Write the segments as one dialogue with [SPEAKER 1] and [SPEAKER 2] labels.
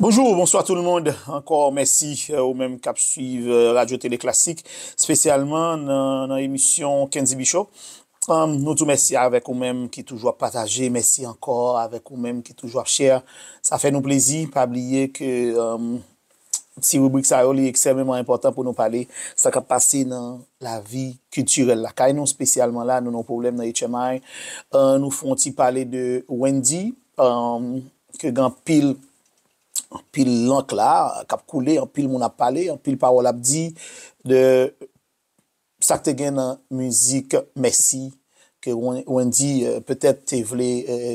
[SPEAKER 1] Bonjou ou bonswa tout moun, ankò mèsi ou menm k ap swiv Radyo Tele Klasik, spesyalman nan emisyon Kenzibi Show. Nou tou mèsi avèk ou menm ki toujou ap pataje, mèsi ankò avèk ou menm ki toujou ap share, sa fè nou plezi, pa bliye ke ti ribrik sa yo li eksememan enpòtan pou nou pale sa kap pase nan lavi kiltirèl lakay nou spesyalman la nou nan yon pwoblèm nan HMI nou fon ti pale de Wendy ke gen anpil anpil lank la kap koule anpil moun ap pale anpil pawòl ap di de Sak te gen nan mizik mèsi ke Wendy petèt te vle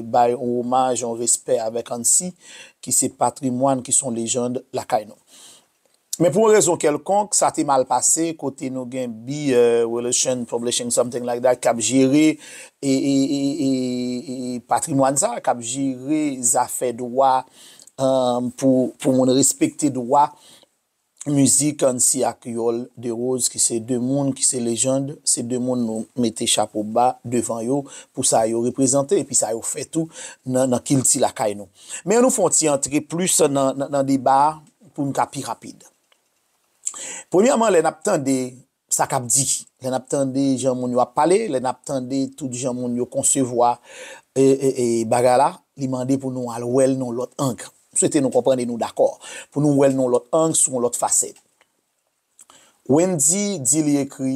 [SPEAKER 1] bay yon omaj, yon respè avèk Annsy ki se patrimwàn, ki se yon lejand lakay nou. Men pou yon rezon kèlkonk, sa te mal pase kote nou gen Bi Relation Publishing something like that kap jere patrimwàn sa, kap jere zafè dwa pou moun respekte dwa. Mizik Annsi ak Yòl Derose ki se 2 moun ki se lejand, se 2 moun nou mete chapo ba devan yo pou sa yo reprezante epi sa yo fè tou nan kilti lakay nou. Men an nou fè yon ti antre plis nan deba a pou n ka pi rapid. Premyèman lè n ap tande sa k ap di, lè n ap tande jan moun yo ap pale, lè n ap tande tout jan moun yo konsevwa bagay la, li mande pou nou al wè l nan yon lòt ang. M swete nou konprann e nou dakò. Pou nou wè l nan yon lòt ang, sou yon lòt fasèt. Wendy di li ekri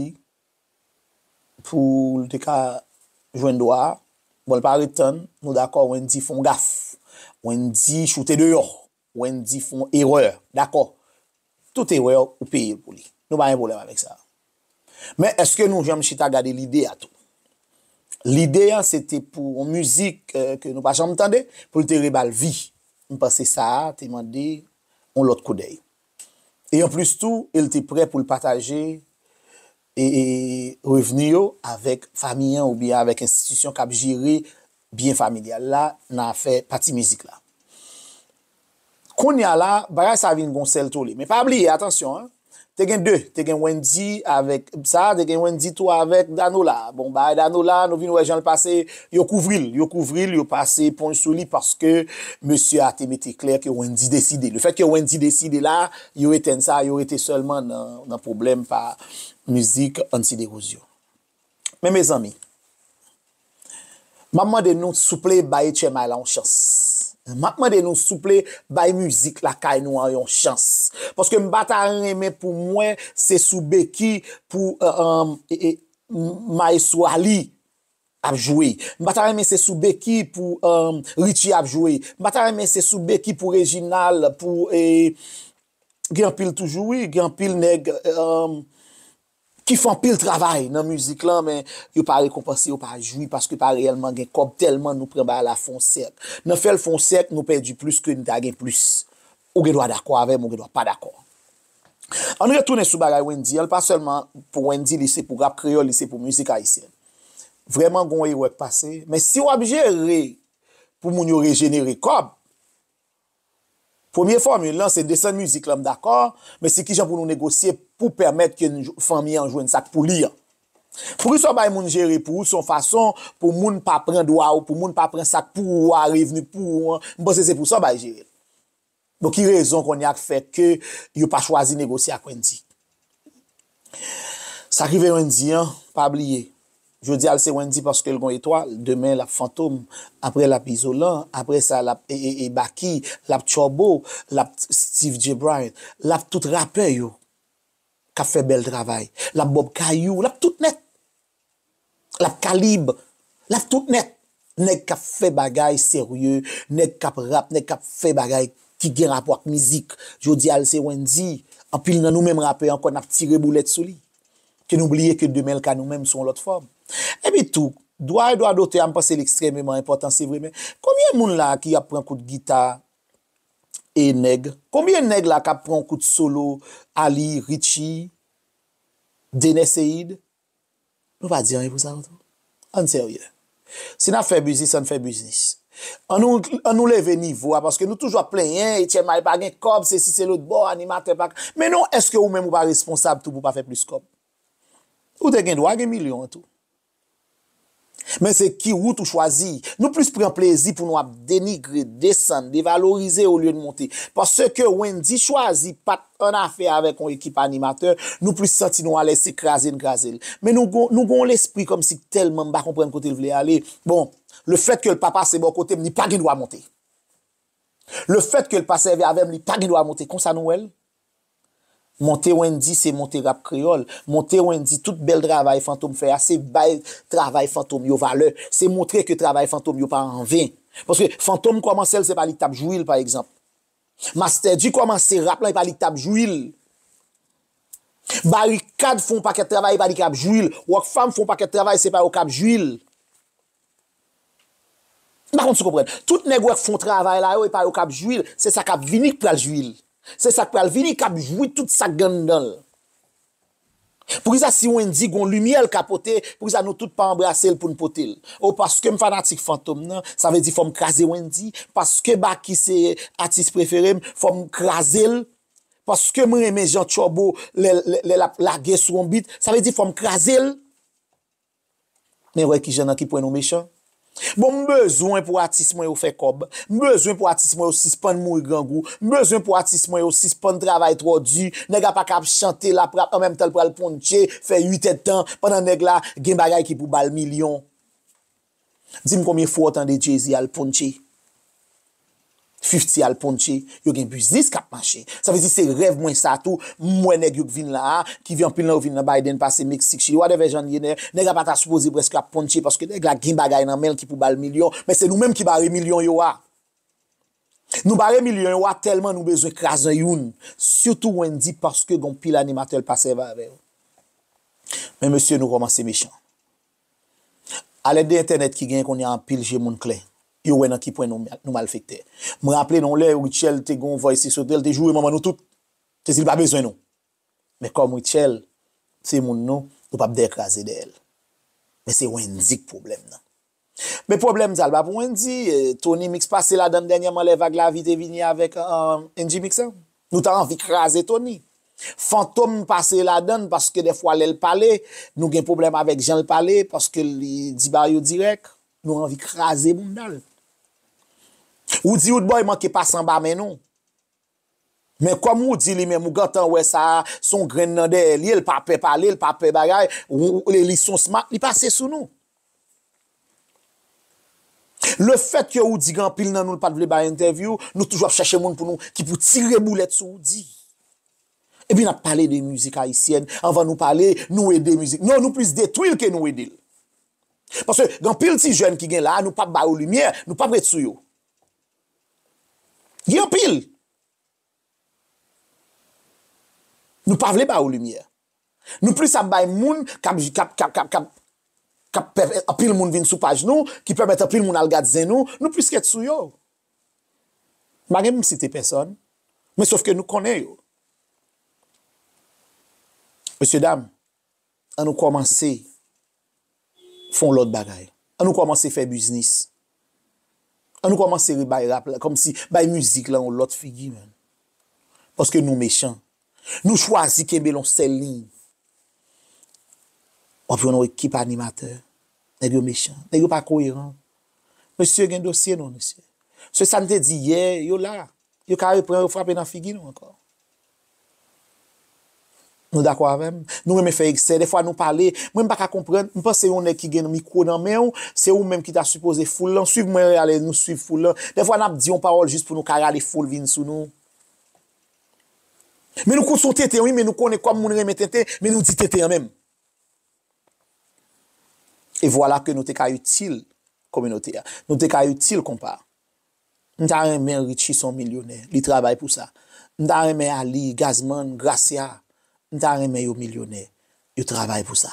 [SPEAKER 1] pou l te ka jwenn dwa a. Bon, l pa ret tann. Nou dakò Wendy fè yon gaf. Wendy choute deyò. Wendy fon erè. Dakò. Tout erè ou peye pou li. Nou pa gen pwoblèm avèk sa. Men eske nou janm chita gade lide a tou? Lide an se te pou yon mizik ke nou pa janm tande, pou l te reba l vi. M panse sa a te mande yon lòt koudèy. E anplis tou, e l te prè pou l pataje revni yo avèk fami an oubyen avèk enstitisyon k ap jere byen familyal la nan afè pati mizik la. Kounya la, bagay sa vin gon sèl tole. Men pa bliye, atansyon an, te gen 2, te gen Wendy avèk sa, te gen Wendy tou avèk Danola. Bon, bagay Danola a, nou vin wè jan l pase, yo kouvri l, yo kouvri l, yo pase eponj sou li paske mesye a te mete klè ke Wendy deside. Lefètke Wendy deside la a, Yo etèn sa, yo rete sèlman nan pwoblèm pa mizik Ansy Desrosiers. Men mezanmi, m ap mande nou souple bay Etchemay la yon chans. M ap mande nou souple bay mizik lakay nou an yon chans. Paske m pa ta renmen pou m wè se sou beki pou Mayestwo Aly ap jwe m pa ta renmen se sou beki pou Richie ap jwe m pa ta renmen se sou beki pou Reginald pou gen anpil toujou wi gen anpil nèg ki fè anpil travay nan mizik lan men yo pa rekonpanse yo pa jwi paske pa reyèlman gen kòb tèlman nou pran bagay la fè yon sèk nan fè l fè yon sèk nou pèdi plis ke n ta gen plis ou gen dwa dakò avè m ou gen dwa pa dakò ann retounen sou bagay Wendyy an l pa sèlman pou Wendyy li se pou rap kreyòl li se pou mizik ayisyèn. Vrèman gon erè k pase men si wap jere pou moun yo rejenere kòb premye fòmil lan se desann mizik lan m dakò men se kijan pou nou negosye pou pèmèt ke fanmi an jwenn sak pou li an poukisa w bay moun jere pou ou se yon fason pou moun pa pran dwa w pou moun pa pran sak pou ou a revni pou ou an m panse se pou sa w bay jere l Bon ki rezon konnya k fè ke yo pa chwazi negosye ak Wendy? Sak rive Wendy an, pa bliye, jodi a l se Wendy paske l gon etwal, demen l ap Fantom, aprè l ap Izolan, aprè sa l ap Baky, l ap Turbo, l ap Steeve Jay Bryant, l ap tout rapè yo k ap fè bèl travay, l ap Bob Kayou, l ap tout nèt. Lap kalib, lap tout nèt. Nèg kap fè bagay serye, nèg kap rap, nèg kap fè bagay ki gen rapò ak mizik. Jodi a l se Wendyy, anpil nan nou menm rapè ankò nap tire boulèt sou li. Ke nou bliye ke demen l ka nou menm sou yon lòt fòm. Epi tou, dwa e dwa dotè a m panse l ekstrèmeman enpòtan se vre men konbyen moun la ki ap pran kout gita e nèg? Konbyen nèg la kap pran yon kout solo Aly, Richie, Dener Ceïde? Nou pa di anyen pou sa yo tou? Ann serye. Si nap fè biznis ann fè biznis. An nou an nou leve nivo a paske nou toujou ap plenyen etyenmay pa gen kòb se si se lòt bò animatè pa ka men non eske ou menm ou pa responsab tou pou pa fè plis kòb. Ou te gen dwa gen milyon an tou. Men se ki wout ou chwazi. Nou plis pran plezi pou nou ap denigre, desann, devalorize olye n monte. Paske Wendyy chwazi pa t annafè avèk yon ekip animatè, nou plis santi nou alèz se kraze n kraze l. Men nou gen yon lespri kòmsi tèlman m pa konprann kote l vle ale, bon, lefètke l pa pase bò kote m li pa gen dwa monte. Lefètke l pa sèvi avè m li pa gen dwa monte. Konsa nou wè l? Monte Wendy se monte rap kreyòl. Monte Wendy tout bèl travay Fantom fè a se bay travay Fantom yo valè, se montre ke travay Fantom yo pa anven. Paske Fantom kòmanse l se pa li k t ap jwi l pa egzanp. Masterdy kòmanse rap lan e pa li k t ap jwi l. Barikad fè yon pakèt travay e pa li k ap jwi l. Rockfam fè yon pakèt travay se pa yo k ap jwi l. M pa konn si w konprann. Tout nèg ou wè k fon travay la yo, e pa yo k ap jwi l, se sa k ap vini k pral jwi l. Se sa k pral vini k ap jwi tout sa k gen anndan l. Poukisa si Wendyy gon limyè l ka pote, poukisa nou tout pa anbrase l pou n pote l? O paske m fanatik Fantom nan, sa vle di fò m kraze Wendyy? Paske Baky se atis prefere m, fò m kraze l? Paske m renmen jan Turbo lè l ap lage sou on beat, sa vle di fò m kraze l? Men wè kijan nan ki pwen nou mechan. Bon m bezwen pou atis mwen yo fè kòb, m bezwen pou atis mwen yo sispann mouri grangou, m bezwen pou atis mwen yo sispann travay twò di, nèg la paka ap chante lap rap an menm tan l pral pounche fè 8 èdtan pandan nèg la gen bagay ki pou bal milyon. Dim konbyen fwa w tande Jay-Z al pounche, Fifty al pounche, yo gen biznis kap mache. Sa vle di se rèv mwen sa tou, m wè nèg yo k vin la a, ki vin anpil nan yo vin nan Biden pase Meksik, Chili, whatever jan l ye, nèg la pa ta sipoze prèske ap pounche paske nèg la gen bagay nan men l ki pou ba l milyon, men se nou menm ki bare milyon yo a. Nou bare milyon yo a tèlman nou bezwen kraze youn, sitou Wendyy paske gen anpil animatè l pa sèvi avè yo. Men mesye nou kòmanse mechan. A lèd de entènèt ki genyen kounye a anpil je moun klè. Yo wè nan ki pwen nou malfektè. M raple nou yon lè Rutshelle te gen yon vwa esepsyonel li te joure manman nou tout. Te di li pa bezwen nou. Men kòm Rutshelle se moun nou, nou pap dèyè kraze dèyè l. Men se Wendyy k pwoblèm nan. Men pwoblèm sa l pa pou Wendyy, Tony Mix pase ladan l dènyèman lè vag lavi te vini avèk NGMix an. Nou ta anvi kraze Tony. Fantom pase ladann paske dèfwa lèl pale nou gen pwoblèm avèk janl pale paske li di bagay yo dirèk nou anvi kraze boundal. Roody Roodboy manke pase anba men nou. Men kòm Roody li menm ou gentan wè sa son grenn nan dèyè li el pa pè pale el pa pè bagay li son smart li pase sou nou. Le fèt ke ou di gen anpil nan nou l pat vle bay entèvyou, nou toujou ap chèche moun pou nou ki pou tire boulèt sou ou di. Epi nap pale de mizik ayisyèn anvan nou pale nou ede mizik non nou plis detwi l ke nou ede l. Paske gen anpil ti jèn ki gen la a nou pap ba yo limyè, nou pap ret sou yo. Gen anpil. Nou pa vle ba ou limyè. Nou plis ap bay moun kap kap pèp anpil moun vin sou paj nou, ki pèmèt anpil moun al gad zen nou, nou plis ret sou yo. M pa gen pou m site pèsòn, men sof ke nou konnen yo. Mesye dam. An nou kòmanse fon lòt bagay. An nou kòmanse fè biznis. An nou kòmanse rebay rap la, kòmsi bay mizik la yon lòt figi menn. Paske nou mechan. Nou chwazi kenbe lon sèl liy. W ap jwenn yon ekip animatè. Nèg yo mechan. Nèg yo pa koyeran. Mesye gen dosye nou mesye. Se sa n te di yè, yo la. Yo kare pran yo frape nan figi nou ankò. Nou dakò avèm? Nou renmen fè eksè, dèfwa nou pale, mwen m paka konprann, m panse yon nèg ki gen mikwo nan menw, se ou menm ki ta sipoze foul lan, swiv mwen rale nou swiv foul lan, dèfwa nap di yon pawòl jis pou nou ka rale foul vin sou nou. Men nou kout son tenten wi men nou konnen kòm moun renmen tenten men nou di tenten an menm. E vwala ke nou te ka itil kominote a. Nou te ka itil konpa a. M ta renmen Richie son milyonè li travay pou sa m ta renmen Ali, Gazman, Gracia m ta renmen yo milyonè yo travay pou sa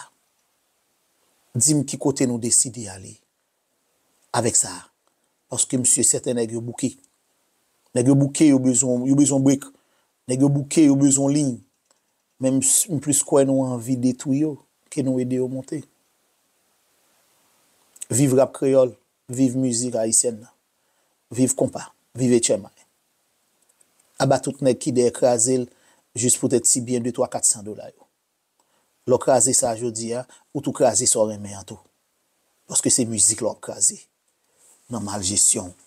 [SPEAKER 1] dim ki kote nou deside ale avèk sa paske m si sèten nèg yo bouke nèg yo bouke yo bezwen yo bezwen break nèg yo bouke yo bezwen liy men m plis kwè nou anvi detwi yo ke nou ede yo monte Viv rap kreyòl. Viv mizik ayisyèn nan. Viv konpa. Viv etchèmay. Aba tout nèg ki dèyè kraze l jis pou tèt ti byen de twa kat san dola yo. Lè w kraze sa jodi a, ou tou kraze sa w renmen an tou. Paske se mizik la w ap kraze nan maljesyon w.